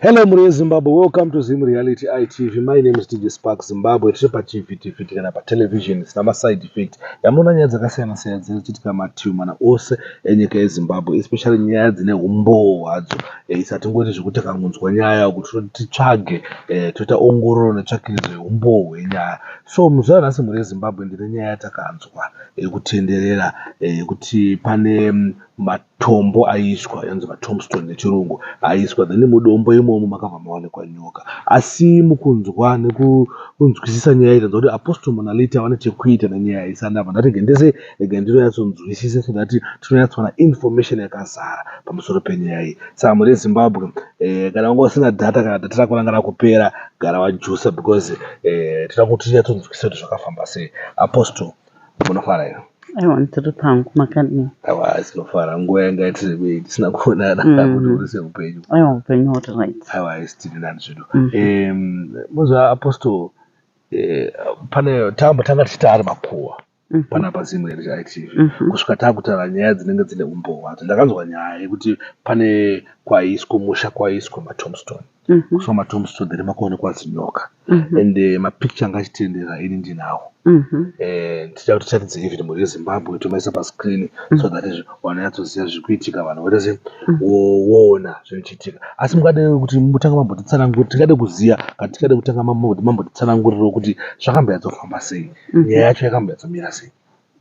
Hello mhuri yeZimbabwe, welcome to Zim Reality ITV. My name is DJ Spark Zimbabwe. Tiri paTV, TV kana patelevision isina maside effect. Yamunoona nyaya dzakasiyana siyana dziri kuchitika mativi mana ose enyika yeZimbabwe, especially nyaya dzine umbowo hwadzo. Eh, Isa tingoti zvekuti kangunzwa nyaya kuti titsvage eh, toita ongororo netsvakiridzo yeumbowo hwenyaya. So muzuva ranhasi mhuri yeZimbabwe ndine nyaya yatakanzwa yekutenderera eh, yekuti pane mm, ma- Tombo aiswa yanzi matombstone nechirungu aiswa then mudombo imomo makabva mawanikwa nyoka asi mukunzwa nekunzwisisa nyaya iyi tanzwa kuti apostle monality avane chekuita nenyaya iyi saka ndabva ndati rega ndese rega ndinoyatsonzwisisa so that tinonyatsowana information yakazara pamusoro penyaya iyi saka muri zimbabwe eh, kana wanga usina data kana data rako ranga rakupera gara wajusa because eh, tinoda kuti tinyatsonzwisisa kuti zvakafamba sei apostle munofara here aiwa ndiri pangu makadii aiwa tinofara nguva yanga yatirebei tisina kuonana mm. kuti uri seupenyu aiwa upenyu uri right aiwa isi tiri nani zvedu mozva mm-hmm. apostol eh, pane tamba tanga tichita ari makuwa mm-hmm. panapa zimwe reitv mm-hmm. kusvika taakutaura nyaya dzinenge dzine umboo hwadzo ndakanzwa nyaya yekuti pane kwaiswa musha kwaiswa matombstone mm -hmm. so matombstone there makuonekwa zinyoka mm -hmm. and uh, mapicture anga achitendera ini ndinawo mm -hmm. and tichida kuti tiratidze even mhuri yezimbabwe tomaisa pascreen mm -hmm. so mhm. that vanonyatsoziva zviri kuitika vanhu votese mhm. woona zviri kuitika asi mukade kuti mutanga mambotitsanangurira tingade kuziva kana tingade kutanga mambotitsanangurirawo kuti zvakamboyatsofamba sei mhm. nyaya yacho yakamboyatsomira sei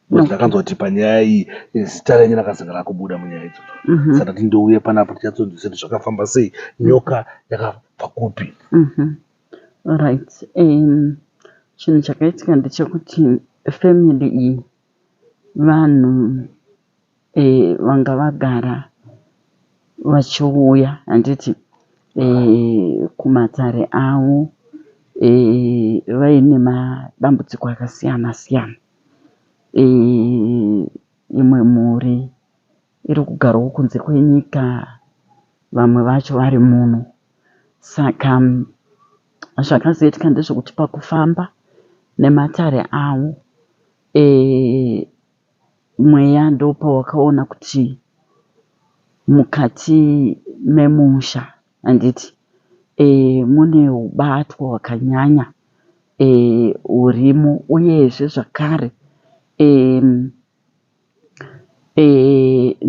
But ndakanzwa kuti panyaya iyi eh, zita renyu rakazenge rakubuda munyaya idzodzo. Mhm. Saka kuti ndouye panapo tichatsodzisa kuti zvakafamba sei, nyoka yakabva kupi. Mhm. Alright. Um, chinhu chakaitika ndechekuti family iyi vanhu vanga vagara vachiuya handiti kumatare avo vaine madambudziko akasiyana siyana. Imwe mhuri iri kugarawo kunze kwenyika vamwe vacho vari muno. Saka zvakazoitika ndezvekuti pakufamba nematare avo. mweya ndopawakaona kuti mukati memusha handiti mune hubatwa hwakanyanya hurimo uyezve zvakare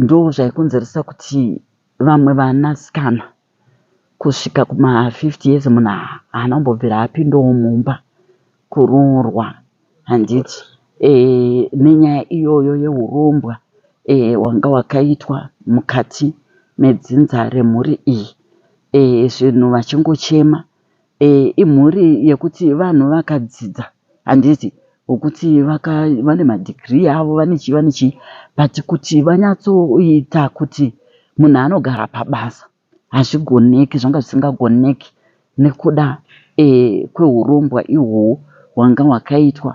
ndozvaikonzeresa kuti vamwe vanasikana. kusvika kuma 50 years munhu haana kumbobvira apindawo mumba kuroorwa handiti nenyaya iyoyo yehurombwa hwanga hwakaitwa mukati medzinza remhuri iyi zvinhu vachingochema. Imhuri yekuti vanhu vakadzidza handiti vokuti vane madegree avo vane chii vane chii but kuti vanyatsoita kuti munhu anogara pabasa hazvigoneki zvanga zvisingagoneki nekuda kwehurombwa ihwohwo hwanga hwakaitwa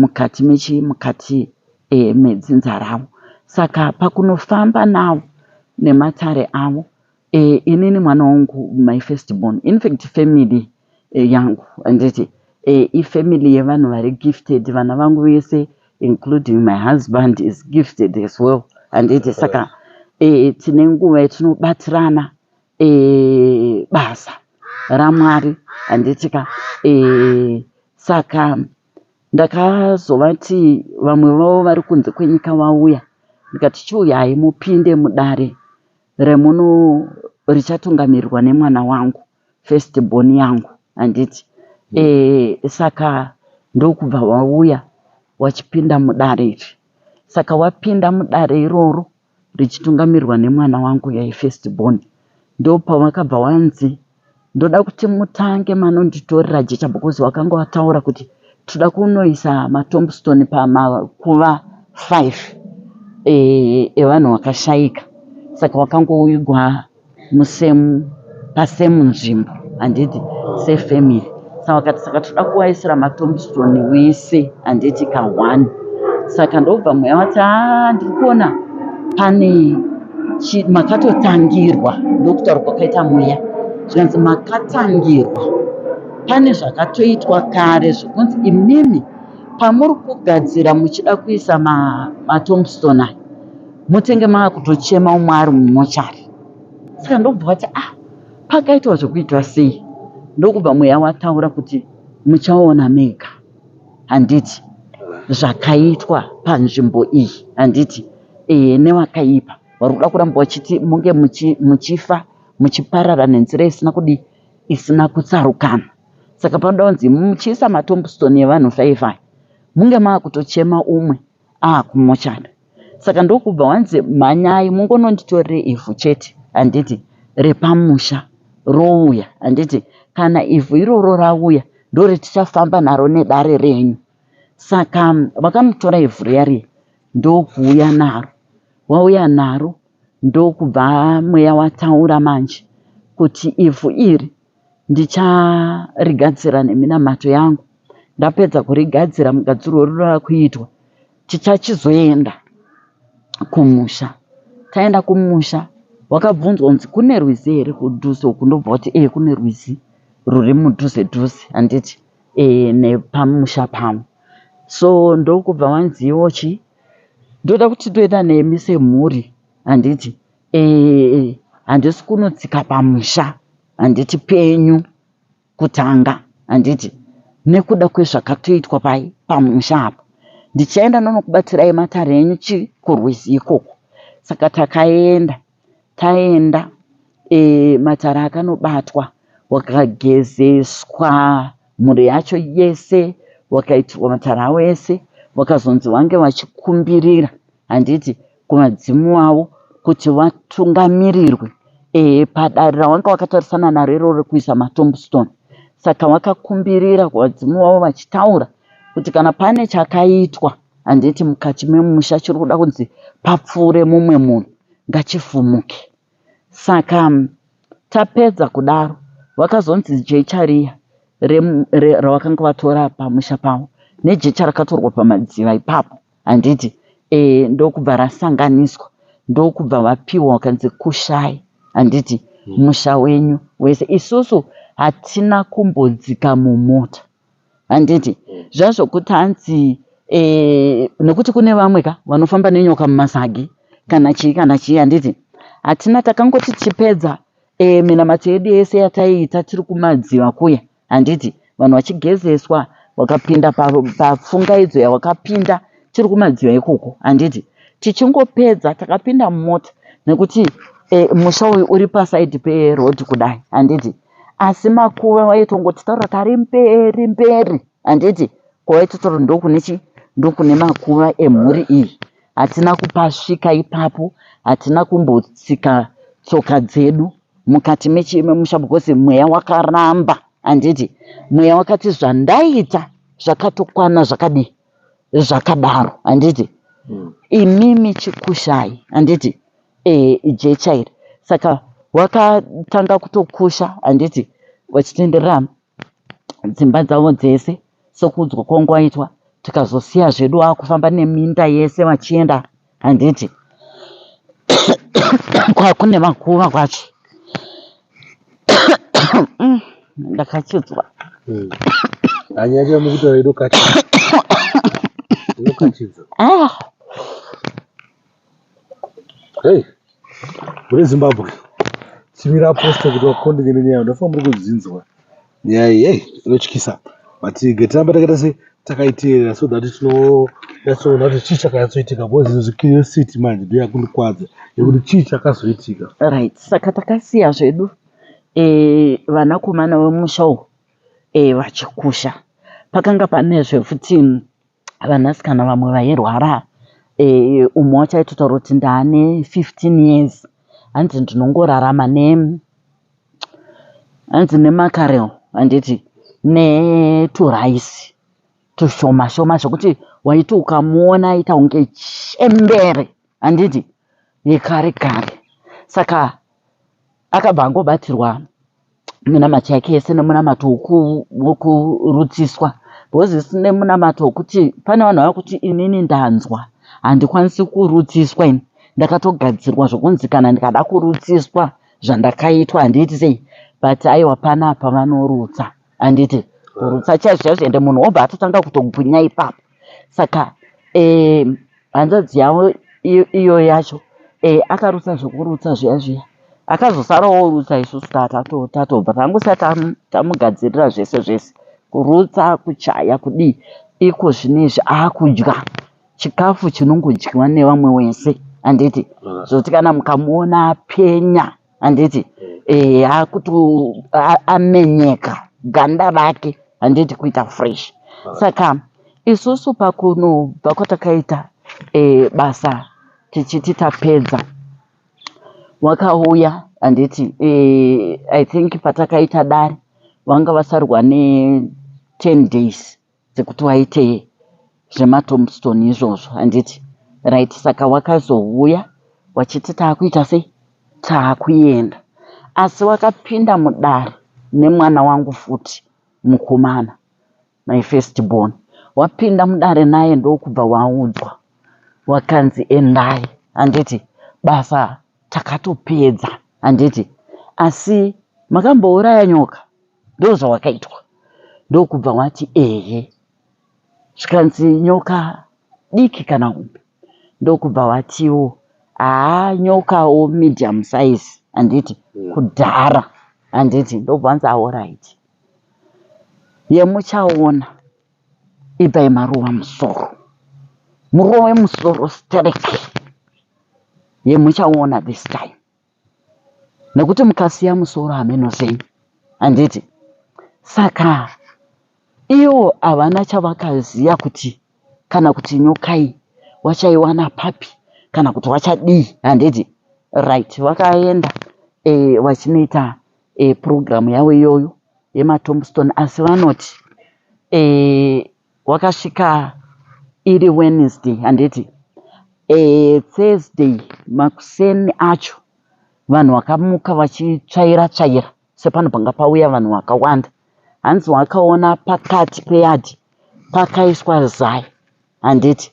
mukati mechii mukati medzinza ravo saka pakunofamba navo nematare avo Eh inini mwana wangu my first born infact family yangu handiti eh ifamily yevanhu vari gifted vana vangu vese including my husband is gifted as well handiti saka eh tine nguva yatinobatirana eh basa ramwari handiti ka eh saka ndakazovati vamwe vavo vari kunze kwenyika vauya ndikati chiuyai mupinde mudare remuno richatungamirirwa nemwana wangu first born yangu handiti mm. e, saka ndokubva wauya wachipinda mudare iri saka wapinda mudare iroro richitungamirirwa nemwana wangu yaifirst born ndopawakabva wanzi ndoda kuti mutange manonditorera jecha because wakanga wataura kuti tinoda kunoisa matombstone pamakuva five eh, evanhu vakashaika saka wakangoigwa musemu pasemu nzvimbo handiti sefamily Saka akati saka toda kuvaisira matombstone wese handiti ka one saka ndobva mweya wati a ah, ndiri kuona pane makatotangirwa ndokutaura kwakaita mweya zvikanzi makatangirwa pane zvakatoitwa kare zvokunzi imimi pamuri kugadzira muchida kuisa matombstone aya motenge maakutochema umwe ari mumochari saka ndobva vati ah Pakaitwa zvekuitwa sei ndokubva mweya wataura kuti muchaona mega handiti zvakaitwa panzvimbo iyi handiti ee newakaipa wari kuda kuramba wachiti munge muchifa muchiparara nenzira isina kudi isina kutsarukana saka panoda kunzi muchiisa matombstone evanhu faifi munge maakutochema umwe Ah kumochari saka ndokubva wanzi mhanyai mungononditorere ivhu chete handiti repamusha rouya handiti kana ivhu iroro rauya ndoretichafamba naro nedare renyu saka vakamutora ivhu riya riya ndokuuya naro wauya naro ndokubva mweya wataura manje kuti ivhu iri ndicharigadzira neminamato yangu ndapedza kurigadzira mugadzirwo uri wakuitwa tichachizoenda kumusha taenda kumusha wakabvunzwa kunzi kune rwizi here kudhuze uku ndobva kuti ee kune rwizi ruri mudhuze dhuze handiti ee nepamusha pamwe so ndokubva wanziwo chii ndoda kuti toenda nemi semhuri handiti Eeh handisi kunotsika pamusha handiti penyu kutanga handiti nekuda kwezvakatoitwa pai pamusha apa ndichaenda ndonokubatsirai matare enyu chi kurwizi ikoko saka takaenda taenda eeh matare akanobatwa wakagezeswa mhuri yacho yese wakaitirwa matare awo ese wakazonzi wange wachikumbirira handiti kuvadzimu wavo kuti vatungamirirwe e, padare rawanga wakatarisana naro iroro rekuisa matombstone saka wakakumbirira kuvadzimu wavo vachitaura kuti kana pane chakaitwa handiti mukati memusha chiri kuda kunzi papfuure mumwe munhu ngachifumuke saka tapedza kudaro vakazonzi jecha riya rawakanga vatora pamusha pavo nejecha rakatorwa pamadziva ipapo Handiti eh ndokubva rasanganiswa ndokubva vapiwa vakanzi kushai handiti hmm. musha wenyu wese isusu hatina kumbodzika mumota handiti hmm. zvazvokuti hanzi e, nekuti kune vamwe ka vanofamba nenyoka mumasagi kana chii kana chii handiti hatina takangoti tichipedza e, minamato yedu yese yataiita tiri kumadziva kuya Handiti vanhu vachigezeswa wakapinda pafungaidzo yawakapinda tiri kumadziva ikoko handiti tichingopedza takapinda mumota nekuti e, musha uyu uri pasaidi perodhi kudai handiti asi makuva waitongoti taura tari mberi mberi handiti kwawaitotaura ndokune chi ndokune makuva emhuri iyi hatina kupasvika ipapo hatina kumbotsika tsoka dzedu mukati memusha because mweya wakaramba handiti mweya wakati zvandaita zvakatokwana zvakadii zvakadaro handiti mm. imimi chikushai handiti e, eh, jecha iri saka wakatanga kutokusha handiti vachitenderera dzimba dzavo dzese sekuudzwa kwangu kwaitwa tikazosiya zvedu wakufamba neminda yese vachienda handiti kwakune makuva kwacho mm, ndakachidzwa hmm. anyanya mukutaura inokatidza ah. Hey, muri Zimbabwe chimira apostle kuti vakondeke nenyaya ndofa muri kudzinzwa nyaya iyi hey, inotyisa but getiramba takaita se takaiteerera so that tinonyatsoona kuti chii chakanyatsoitika because izvo zvecuriosity manje ndo yakundikwadza yekuti chii chakazoitika right saka takasiya zvedu eh, vanakomana vemusha uku eh, vachikusha pakanga pane zvefuti vanasikana vamwe vairwara umwe wacho aitotaura kuti ndaane 15 years hanzi ndinongorarama ne hanzi nemakarel handiti neturaisi tushoma shoma zvekuti waiti ukamuona aita kunge chembere handiti yekare kare saka akabva angobatsirwa munamato yake yese nemunamato wokurutsiswa because sine munamato wokuti pane vanhu vava kuti inini ndanzwa handikwanisi kurutsiswa ini ndakatogadzirwa zvokunzi kana ndikada kurutsiswa zvandakaitwa handiiti sei but aiwa panapa vanorutsa handiti kurutsa chaizvo chaizvo ende munhu obva atotanga kutogwinya ipapo saka eh, hanzvadzi yavo iyo yacho eh, akarutsa zvekurutsa zviya zviya akazosara orutsa isusu tatobva tangosa tamugadzirira zvese zvese kurutsa kuchaya kudii iko zvinezvi akudya chikafu chinongodyiwa nevamwe wese handiti zvoti kana mukamuona apenya handiti eh, akuti amenyeka ganda rake handiti kuita fresh saka isusu pakunobva kwatakaita eh, basa tichiti tapedza wakauya handiti eh, i think patakaita dare vanga vasarwa ne 10 days dzekuti waite zvematombstone izvozvo handiti right saka wakazouya wachiti taakuita sei taakuenda asi wakapinda mudare nemwana wangu futi mukomana my first born wapinda mudare naye ndokubva waudzwa wakanzi endai handiti basa Takatopedza handiti? Asi makambouraya nyoka? Ndozvawakaitwa? Ndokubva wati ehe. Zvikanzi nyoka diki kana hombe? Ndokubva watiwo haa nyokawo medium size handiti? Kudhara handiti? Ndokubva wanzi aoright. Yemuchaona. Itai maruva musoro. Murove musoro sterek. Ye muchaona this time. Nekuti mukasiya musoro hameno zeny. Handiti? Saka iwo havana chavakaziya kuti kana kuti nyokai wachaiwana papi kana kuti wachadii. Handiti? Right. Vakaenda eh, vachinoita e, purogiramu yavo iyoyo yematombstone asi vanoti e, wakasvika iri Wednesday handiti e, Thursday makuseni acho vanhu vakamuka vachitsvaira tsvaira sepano panga pauya vanhu vakawanda hanzi wakaona pakati peyadhi pakaiswa zai handiti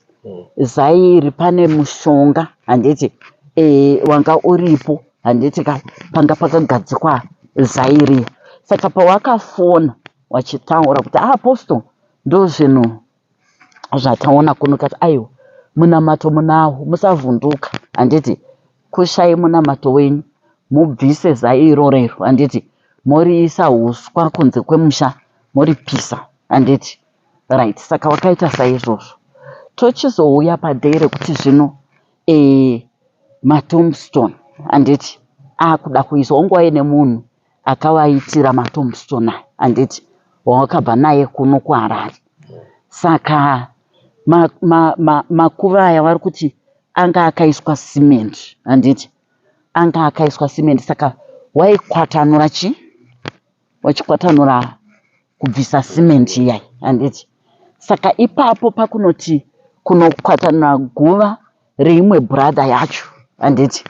zai iri pane mushonga handiti e, wanga uripo handiti ka panga pakagadzikwa zai iri saka pawakafona wachitaura kuti ah, apostle ndozvinhu zvataona kuno kati aiwa munamato munawo musavhunduka handiti kushai munamato wenyu mubvise zai irorero handiti moriisa uswa kunze kwemusha moripisa handiti Right, saka wakaita saizvozvo. Tochizouya paday rekuti zvino eh, matombstone handiti akuda kuiswa wangu wave nemunhu akavaitira matombstone aya handiti wawakabva naye kuno kuharare saka makuva ma, ma, ma aya vari kuti anga akaiswa cement handiti anga akaiswa cement saka waikwatanura chii vachikwatanura kubvisa cement iya handiti saka ipapo pakunoti kunokwatanura guva reimwe brother yacho handiti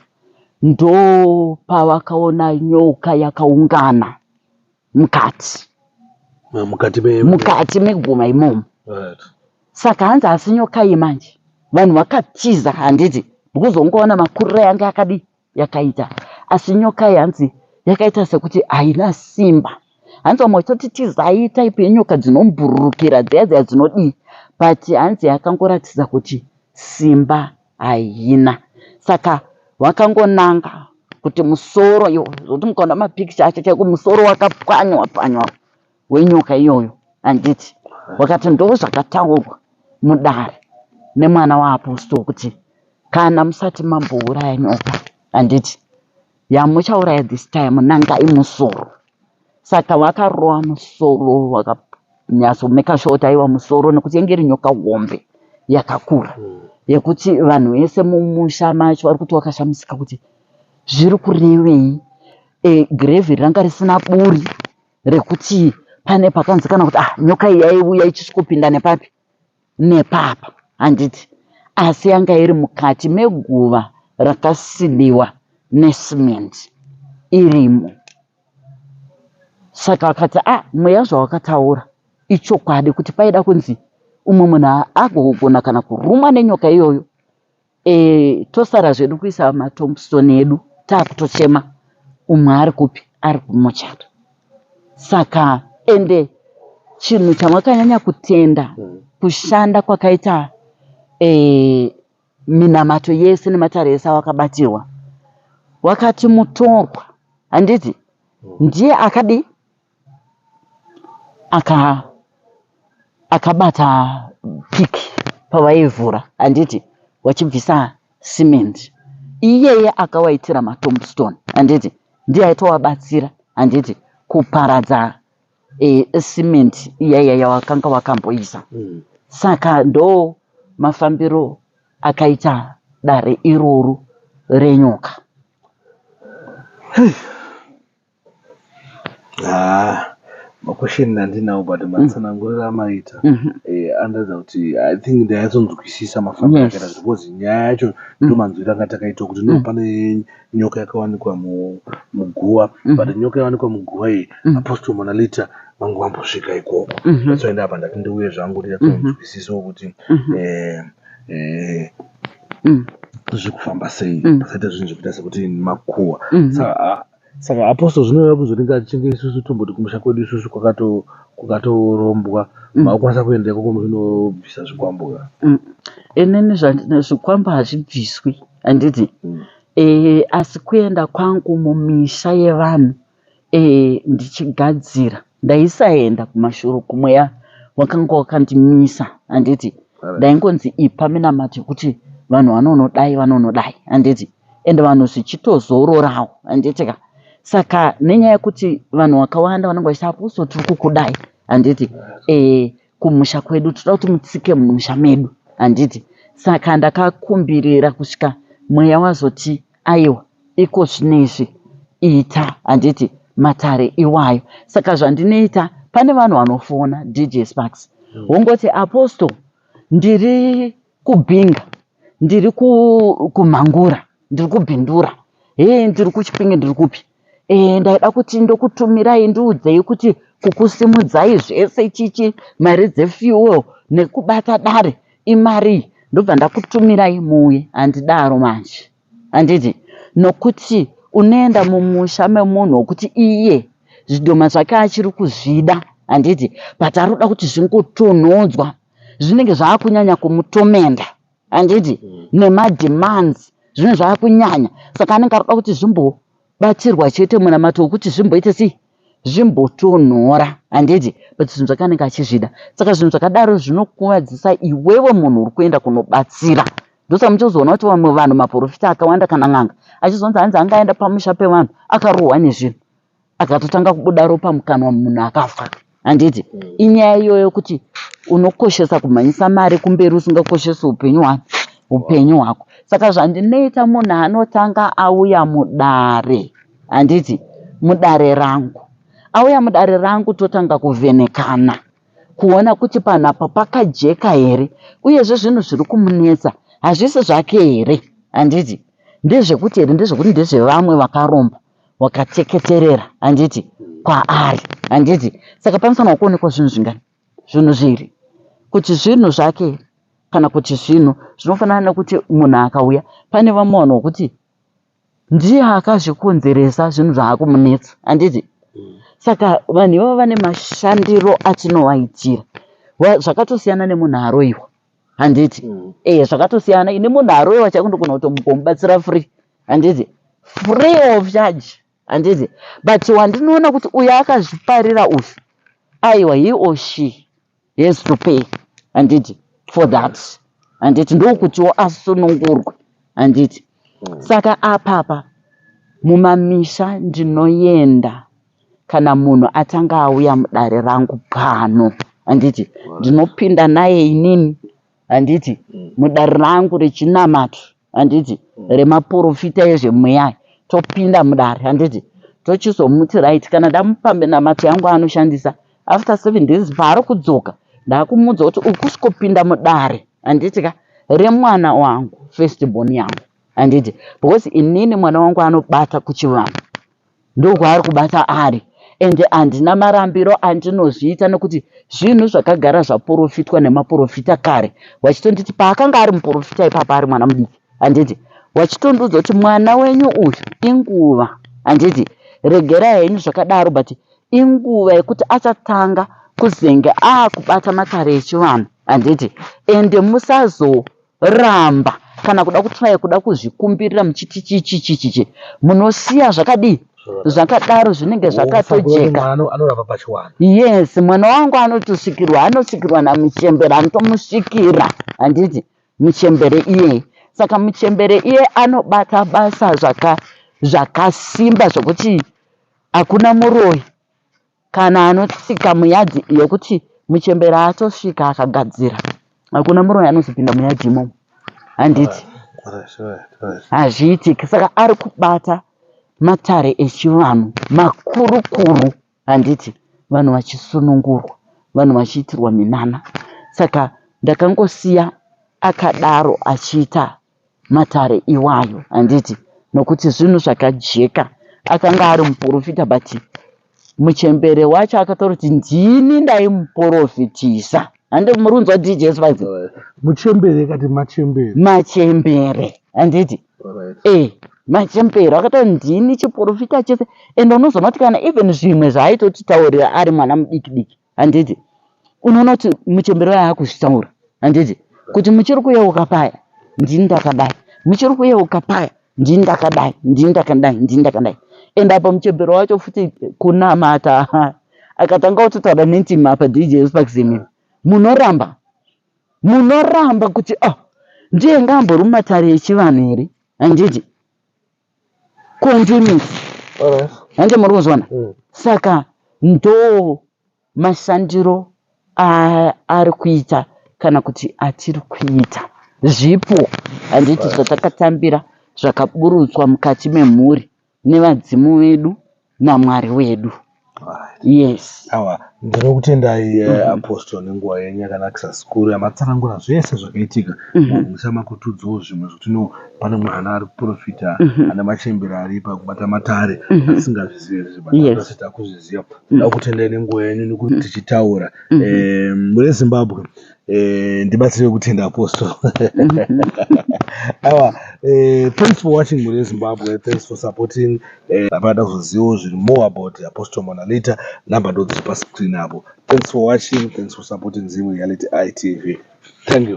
ndo pavakaona nyoka yakaungana mukati Ah, mukati me mukati meguma imomo Right. saka hanzi asi nyoka iyi manje vanhu vakatiza handiti because ungoona makuriro yange akadii yakaita asi nyoka iyi hanzi yakaita sekuti haina simba hanzi vamwe vachitoti tizai type yenyoka dzinombururukira dziya dziya dzinodii but hanzi yakangoratidza kuti simba haina saka wakangonanga kuti musoro iwo zvokuti mukaona mapikicha acho chaiko musoro wakapwanywa pwanywa wenyoka iyoyo handiti wakati ndozvakataurwa mudare nemwana waapostle kuti kana musati mambouraya nyoka handiti yamuchauraya this time nanga imusoro saka wakarova musoro wakanyatsomeka shota aiwa musoro nekuti yenge iri nyoka hombe yakakura hmm. yekuti vanhu vese mumusha macho vari kuti wakashamisika kuti zviri kurevei e, grevhi ranga risina buri rekuti pane pakanzi kana kuti ah nyoka iyi yaiuya ichisvikopinda nepapi nepapa handiti asi yanga iri mukati meguva rakasidiwa nesimendi irimo saka vakati ah mweya zvawakataura ichokwadi kuti paida kunzi umwe munhu agogona kana kurumwa nenyoka iyoyo Eh tosara zvedu kuisa matombstone edu takutochema umwe ari kupi ari kumochari saka ende chinhu chamakanyanya kutenda mm. kushanda kwakaita eh, minamato yese nematare ese awakabatirwa wakati mutorwa handiti mm. ndiye akadi aka akabata pick pavaivhura handiti vachibvisa cement iyeye akawaitira matombstone handiti ndiye aitovabatsira handiti kuparadza e, cement iyaiya yavakanga vakamboisa mm. saka ndo mafambiro akaita dare iroro renyoka Haa makwesheni ndandinawo but mm. matsananguriro amaita mhm. eh, andiratidza kuti i think ndaiyatsonzwisisa mafambiro akaita zvi because nyaya yacho mm. ndomanzwiro anga takaitwa kuti no mm. pane nyoka yakawanikwa muguva but nyoka yawanikwa muguva iyi apostle monalita vangu vambosvika ikoko mhm. atsoenda apa ndati ndiuye zvangu ndiyatsonzwisisawo mhm. kuti mhm. eh, eh, mm. zviri kufamba sei pasaita zvinhu zvekuita sekuti makuwa mm-hmm. Saka apostle zvinoreva kuzoti ngatitenge isusu tomboti kumusha kwedu isusu kwakato kwakatorombwa Mm. makukwanisa kuendeko komuchinobvisa zvikwambo ka Mm. inini zvandina zvikwambo hazvibviswi handiti Mm. eh, asi kuenda kwangu mumisha yevanhu eh, ndichigadzira ndaisaenda kumashuro kumweya wakanga wakandimisa handiti Alright. ndaingonzi ipa minamato yekuti vanhu vanonodai vanonodai handiti and vanhu zvichitozororawo handiti ka saka nenyaya yekuti vanhu vakawanda vanenge vachiti apuso tiri kukudai handiti e, kumusha kwedu tinoda kuti mutsike mumusha medu handiti saka ndakakumbirira kusvika mweya wazoti aiwa iko zvino izvi ita handiti matare iwayo saka zvandinoita pane vanhu vanofona dj sparks wongoti apostle ndiri Kubhinga ndiri kumhangura ndiri kubhindura hee ndiri kuchipinge ndiri kupi ee ndaida kuti ndokutumirai ndiudzei kuti kukusimudzai zvese chichi mari dzefuel nekubata dare imarii ndobva ndakutumirai muuye handidaro manje Handiti? Nokuti unoenda mumusha memunhu wokuti iye zvidhoma zvake achiri kuzvida, handiti? But ari kuda kuti zvingotonhodzwa. Zvinenge zvava kunyanya kumutomenda, handiti? Nemademands zvinenge zvava kunyanya. Saka anenge ari kuda kuti zvimbobatsirwa chete munamato wokuti zvimboita sei? zvimbotonhora handiti but zvinhu zvake anenge achizvida saka zvinhu zvakadaro zvinokuvadzisa iwewe munhu uri kuenda kunobatsira ndosaka muchizoona kuti vamwe vanhu maporofita akawanda kana n'anga achizonzi hanzi anga aenda pamusha pevanhu akarohwa nezvinhu akatotanga kubuda ropa mukanwa munhu akafa handiti mm. inyaya iyoyo kuti unokoshesa kumhanyisa mari kumberi usingakoshesi upenyu hwako upenyu hwako saka zvandinoita munhu anotanga auya mudare handiti mudare rangu auya mudare rangu totanga kuvhenekana kuona kuti panhu apa pakajeka here uyezve zvinhu zviri kumunetsa hazvisi zvake here handiti ndezvekuti here ndezvekuti ndezvevamwe vakaromba wakateketerera handiti kwaari handiti saka panofanirwa kuonekwa zvinhu zvingani zvinhu zviri kuti zvinhu zvake kana kuti zvinhu zvinofanana nekuti munhu akauya pane vamwe vanhu vokuti ndiye akazvikonzeresa zvinhu zvaakumunetsa handiti mm. saka vanhu ivavo vane mashandiro atinovaitira zvakatosiyana nemunhu aroiwa handiti mm. ee eh, zvakatosiyana ini munhu aroiwa chaiko ndogona kutomubatsira free handiti free of charge handiti but wandinoona kuti uyo akazviparira uyu aiwa he or she He has to pay handiti for that handiti ndokutiwo asunungurwe handiti mm. saka apapa mumamisha ndinoyenda kana munhu atanga auya mudare rangu pano handiti ndinopinda naye inini handiti mudare rangu rechinamato handiti mm. remaporofita ezvemweya topinda mudare handiti tochizomuti right kana ndamupambe namato yangu aanoshandisa after seven days paari kudzoka ndakumudza kuti ukusikopinda mudare handiti ka remwana wangu first born yangu handiti because inini mwana wangu anobata kuchivanhu Ndokwaari kubata ari and handina marambiro andinozviita nekuti zvinhu zvakagara zvaporofitwa nemaporofita kare wachitonditi paakanga ari muporofita ipapa ari mwana mudiki handiti wachitondiudza kuti mwana wenyu uyu inguva handiti regerai henyu zvakadaro but inguva yekuti achatanga kuzenge aakubata matare echivanhu handiti ende musazo Ramba kana kuda kutraya kuda kuzvikumbirira muchiti chichichichichi munosiya zvakadii zvakadaro zvinenge zvakatojeka yes mwana wangu anotosikirwa anosikirwa namuchembere anotomusikira handiti muchembere iyeye saka muchembere iye anobata basa zvaka zvakasimba zvokuti hakuna muroyi Kana anotsika muyard yekuti muchembere atosvika akagadzira hakuna muroyi anozopinda muyard imomo handiti hazviitiki saka ari kubata matare echivanhu makurukuru handiti vanhu vachisunungurwa vanhu vachiitirwa minana saka ndakangosiya akadaro achiita matare iwayo handiti nokuti zvinhu zvakajeka akanga ari muporofita but muchembere wacho akataura kuti ndini ndaimuporofitisa hande muri kunzwa dj spice muchembere kati machembere machembere handiti e eh, machembere akataura ndini chiporofita chese and unozoona kuti kana even zvimwe zvaaitotitaurira ari mwana mudiki diki handiti unoona kuti muchembere waye akuzvitaura handiti kuti muchiri kuyeuka paya ndini ndakadai muchiri kuyeuka paya ndini ndakadai ndini ndakadai ndini ndakadai and apa muchembere wacho futi kunamata akatanga kutotaura nentima apa dj sparks imimi munoramba munoramba kuti oh ndiye ngaambori mumatare echivanhu here handiti continuous hande muri kuzwana mm. saka ndo mashandiro ari kuita kana kuti atiri kuita zvipo handiti zvatakatambira zvakaburutswa mukati memhuri nevadzimu vedu naMwari wedu. Yes. Awa ndinokutendai eh, mm-hmm. apostle nenguva yenyu yakanakisa zikuru yamatsanangura zvese zvakaitika mm-hmm. musa makutudzawo zvimwe zvekuti no pane mwana ari kuprofita mm-hmm. ane machembere ari pakubata matare asingazvizive zvese takuzviziva ndakutendai nenguva yenyu nekuti tichitaura eh, mune zimbabwe Eh, ndibatsire kutenda apostle awa eh, thanks for watching mhuri yezimbabwe thanks for supporting eh, apana kuzozivawo zviri more about apostle mwana later number ndodziri pascreen apo thanks for watching thanks for supporting zim reality itv thank you